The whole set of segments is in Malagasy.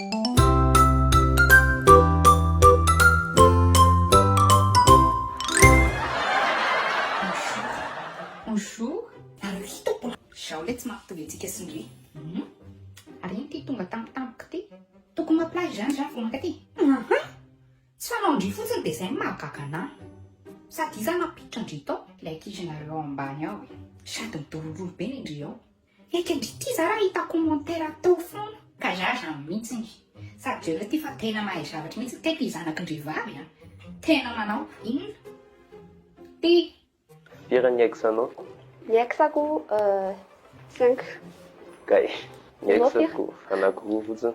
Bonjour. Ary hitako mbola. Zao le tsy mampitovy antsika sy ndry. Ary iny ty tonga tampotampoka ty. Tokony maplage zany za vao mankaty. Aha. Tsy fanao ndry fotsiny de zay no mahagaga anah. Sady iza nampiditra ndry tao. Le ankizy nareo ao ambany ao e. Sady midorondrondo be ny ndry ao. Eka ndry ity za raha hita commentaire atao foana. Ka za zany mihitsiny. Sady jereo ity fa tena mahay zavatra mihitsy teto i zanaky ndry vavy a. Tena manao inona ty. Firy ny ex anao? Ny ex ko cinq. Kay ny ex ko anaky roa fotsiny.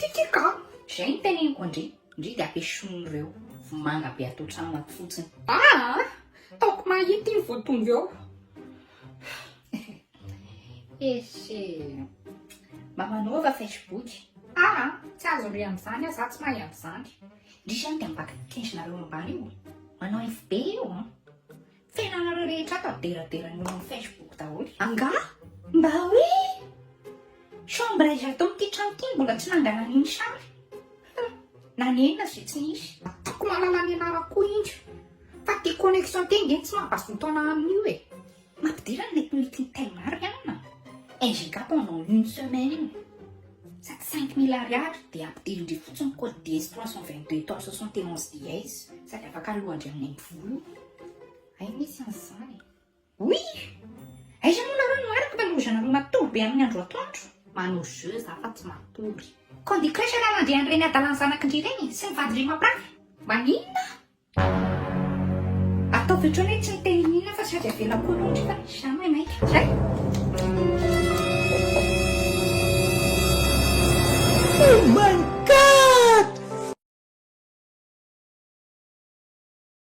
Tiatiako ka! Zay no teneniko an-dry! Ndry dia apesono ireo vomanga be ato an-trano ato fotsiny. Aa! Taoko mahita iny voatombo eo! Ese! Mba manaova Facebook! Aa! Tsy azo re amin'izany aho, za tsy mahay an'izany! Ndry izany dia mba kendrinareo ambany io! Manao info be io an! Tena anareo rehetra ato aberadera no amin'ny Facebook daholo. Angaha? Mba hoe chambre izy ato amin'ity trano ity mbola tsy nangana an'iny sary. Nanenina izay tsy nisy. Ataoko malala ny anarako koa indry. Fa ty connexion ty ange tsy mampazotoana amin'io e. Mampidera ny mety meeting time Marianne. NGK pendant une semaine. Sady cinq mille ariary dia ampidirin-dry fotsiny code dièse trois cent vingt deux étoile soixante et onze dièse sady afaka alohan-dry amin'ny aim-pivolo. Hay misy an'izany e. Oui! Aiza moa nareo no araka taloha za nareo matory be amin'ny andro atoandro? Manao jeu za fa tsy matory. Candy Crush anao nandre an'ireny adalan'ny zanakindry ireny sy ny vadindry mampirafy? Maninona? Ataovy ohatrany hoe tsy miteny inona fa sady avela koa aloha ndry fa za maimaika. Zay! Oh my god!